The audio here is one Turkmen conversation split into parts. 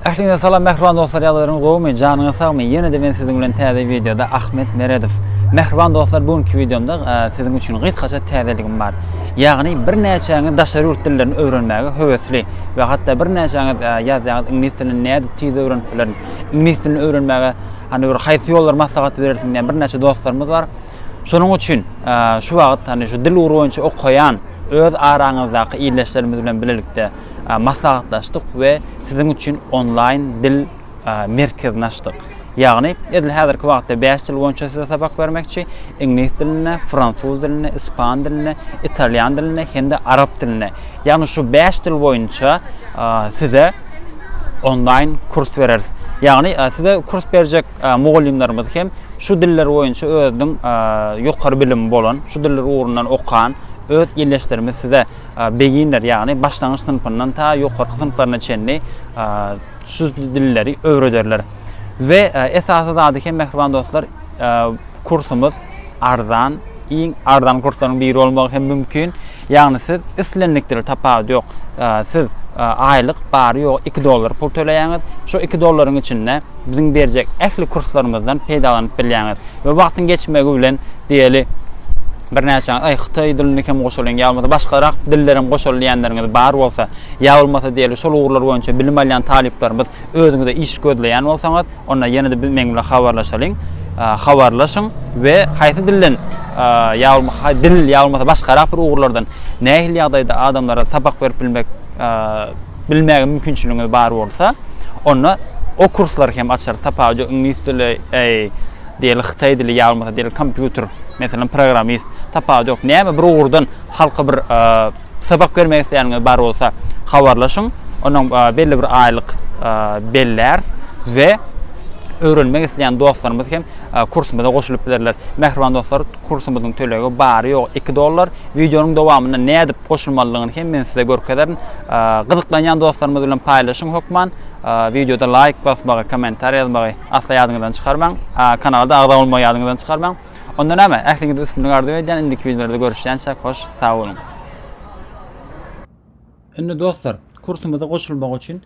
Ähliňize salam mähriban dostlar ýagdaýlaryňyz gowumy janyňyz sagmy ýene-de men siziň bilen täze wideoda Ahmet Meredow mähriban dostlar bu günki wideomda e, siziň üçin gysgaça täzeligim bar ýagny birnäçäňiz daşary ýurt dillerini öwrenmäge höwesli we hatda birnäçäňiz e, ýazýaňyz iňlis dilini nädip tiz öwrenip bilerin iňlis dilini öwrenmäge hani bir haýsy ýollar maslahat berersiň diýen birnäçe dostlarymyz bar şonuň üçin e, şu wagt hani şu dil ugry boýunça okaýan öz araňyzdaky ildeşlerimiz bilen bilelikde maslahatlaşdyk we siziň üçin onlaýn dil merkezini açdyk. Ýagny, edil häzirki wagtda bäş dil boýunça size sapak bermekçi, iňlis dilinde, fransuz dilinde, ispan dilinde, italýan dilinde hem-de arap dilinde. Ýagny şu bäş dil boýunça size onlaýn kurs bereris. Ýagny, size kurs berjek mugallymlarymyz hem şu diller boýunça özüniň ýokary bilimi bolan, şu diller ugrundan okan öz ildeşlerimiz size Beginner, ýagny başlangyç synpyndan ta ýokarky synplaryna çenli şu dilleri öwrederler. We esasy zady hem mähriban dostlar, kursumyz arzan, iň arzan kurslaryň biri bolmagy hem mümkin. Ýagny siz islendik dili tapawudy ýok. Siz aýlyk bary ýogy 2 dollar pul töleýäňiz. Şu 2 dollaryň içinde biziň berjek ähli kurslarymyzdan peýdalanyp bilýäňiz. We wagtyň geçmegi bilen diýeli Birnäçe aý hytaý dilini hem goşalyň ýa bolmasa başgarak diller hem goşaly diýenleriňiz bar bolsa, ýa bolmasa diýeli şol ugurlar boýunça bilim alýan talyplarymyz özüňize iş gözleýän bolsaňyz, onda ýene-de biz meň bilen habarlaşalyň, habarlaşyň we haýsy dilden ýa bolmasa dil ýa bolmasa başgarak bir ugurlardan nähili ýagdaýda adamlara sapak berip bilmek bilmäge mümkinçiligiňiz bar bolsa, onda o kurslary hem açarys, tapawudy iňlis dili, Deli hytaý dili ýa bolmasa deli kompýuter, meselem programmist, tapawudy ýok. Näme bir ugurdan halka bir sapak bermek isleýäniňiz bar bolsa habarlaşyň. Onuň belli bir aýlyk belläris we öwrenmek isleýän dostlarymyz hem kursumyza goşulyp bilerler. Mähriban dostlar, kursumyzyň tölegi bary-ýogy iki dollar. Wideonyň dowamynda nädip goşulmalydygyny hem men size görkezerin. Gyzyklanýan dostlarymyz bilen paýlaşyň hökman. Wideoda laýk basmagy, kommentariýa ýazmagy Asla ýadyňyzdan çykarmaň. Kanalda agza bolmagy ýadyňyzdan çykarmaň. Onda näme? Ähliňize üstünlik arzuw edýän. Indiki wideolarda görüşýänçäk hoş sag boluň. Indi dostlar, kursumyza goşulmak üçin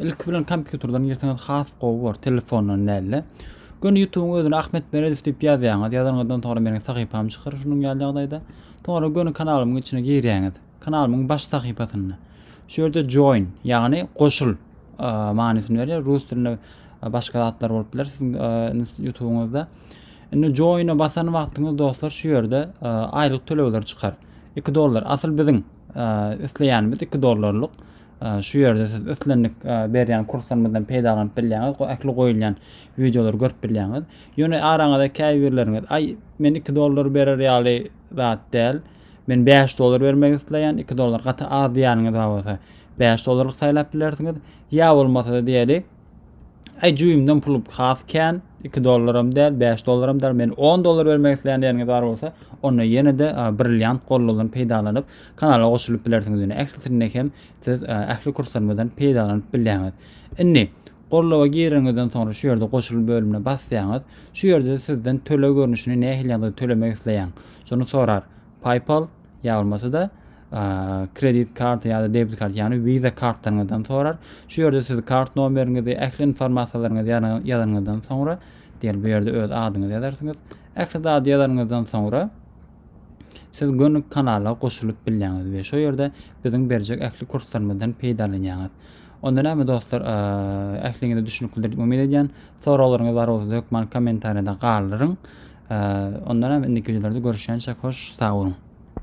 ilki bilen kompýuterden girseňiz has gowy bolar, telefondan däl-de. Göni YouTube-yň özüne Ahmet Meredow diýip ýazýaňyz. Ýazanyňyzdan soňra meniň sahypam çykar şunuň ýaly ýagdaýda. Soňra göni kanalymyň içine girýäňiz. Kanalymyň baş sahypasynda. Şu ýerde join, ýagny goşul manysyny berýär. Rus dilinde başga zatlar bolup biler siziň YouTube-yňyzda. Indi join-a basan wagtyňyz dostlar şu ýerde aýlyk tölegler çykar. 2 dollar. Asyl biziň isleýänimiz 2 dollarlyk. Şu ýerde siz islendik berýän kurslarymyzdan peýdalanyp bilýäňiz. Bu ähli goýulýan wideolary görüp bilýäňiz. Ýöne araňyzda käbirleriňiz, "Aý, men 2 dollar berer ýaly zat däl. Men bäş dollar bermek isleýän, iki dollar gaty az diýýäniňiz bar bolsa, bäş dollarlyk saýlap bilersiňiz. Ýa bolmasa-da diýeli, Aý jüýümden pul has kän, 2 dollaram däl, 5 dollaram däl, men 10 dollar bermek isleýän diýeniňiz bar bolsa, onda ýene-de brilliant gollugyny peýdalanyp, kanala goşulyp bilersiňiz. Ýöne ählisinde hem siz ähli kurslarymyzdan peýdalanyp bilýäňiz. Indi golluga gireniňizden soňra şu ýerde goşul bölümine basýaňyz. Şu ýerde sizden töleg görnüşini nähili ýagdaýda tölemek isleýäň. Şony sorar. PayPal ýa bolmasa-da kredit karty ýa-da debit kart, ýagny Visa kartlaryňyzdan sorar. Şu ýerde siz kart nomeriňizi, ähli informasiýalaryňyzy ýazanyňyzdan soňra, diýen bu ýerde öz adyňyzy ýazarsyňyz. Ähli zady ýazanyňyzdan soňra siz gönük kanala goşulyp bilýäňiz we şu ýerde biziň berjek ähli kurslarymyzdan peýdalanýaňyz. Onda näme dostlar, ähliňize düşüniklidir diýip umyt edýän. Soraglaryňyz bar bolsa hökman kommentariýada galdyryň. Onda näme indiki wideolarda görüşýänçä hoş sag boluň.